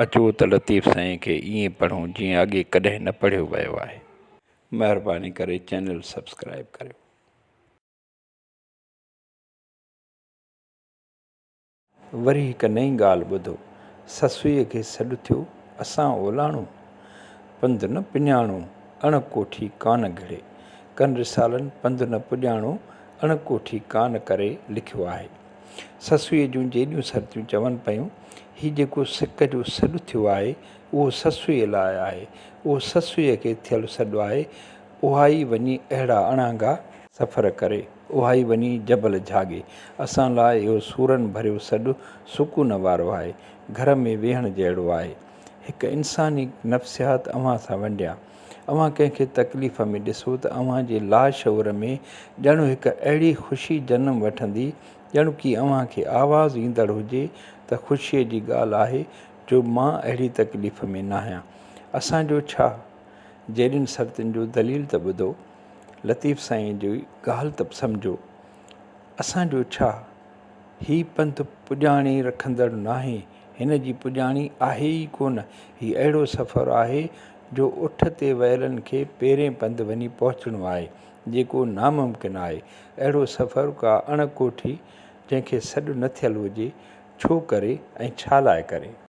اچو ته لطيف سائين کي ائين پڙهون جيئن اڳي ڪڏهن نه پڙهيو ويو آهي مهرباني ڪري چينل سبسڪرائيب ڪريو. وري هڪ نئين ڳالهه ٻڌو، سسئيء کي سڏ ٿيو، اسان اولاڻو، پنڌ نه پڃاڻو، اڻ ڪوٺي ڪانه گهڙي، ڪن رسالن پنڌ نه پڄاڻو، اڻ ڪوٺي ڪانه ڪري لکيو آهي. سسئيء جون جيڏيون سرتيون چون پيون، هي جيڪو سڪ جو سڏ ٿيو آهي، اهو سسئيء لاء آهي، اهو سسئيء کي ٿيل سڏ آهي، اهائي وڃي اهڙا اڻانگا، سفر ڪري، اهائي وڃي جبل جهاڳي. اسان لاء اهو سورن ڀريو سڏ سڪون وارو آهي. گهر ۾ ويهڻ جهڙو آهي. هڪ انساني نفسيات اوهان سان ونڊيان. اوهان ڪنهن کي تڪليف ۾ ڏسو ته اوهان جي لاشعور ۾ ڄڻ هڪ اهڙي خوشي جنم وٺندي، ڄڻڪي اوهان کي آواز ايندڙ هجي ته خوشيء جي ڳالهه آهي جو مان اهڙي تڪليف ۾ ناهيان. اسان جو ڇا؟ جيڏين سرتين جو دليل ته ٻڌو. لطيف سائين جي ڳالهه ته سمجهو، اسان جو ڇا، هي پنٿ پڄاڻي رکندڙ ناهي، هن جي پڄاڻي آهي ئي ڪونه، هي اهڙو سفر آهي جو اٺ تي ويلن کي پيرين پنڌ وڃي پهچڻو آهي، جيڪو ناممڪن آهي، اهڙو سفر ڪا اڻ ڪوٺي جنهن کي سڏ نه ٿيل هجي، ڇو ڪري ۽ ڇا لاء ڪري؟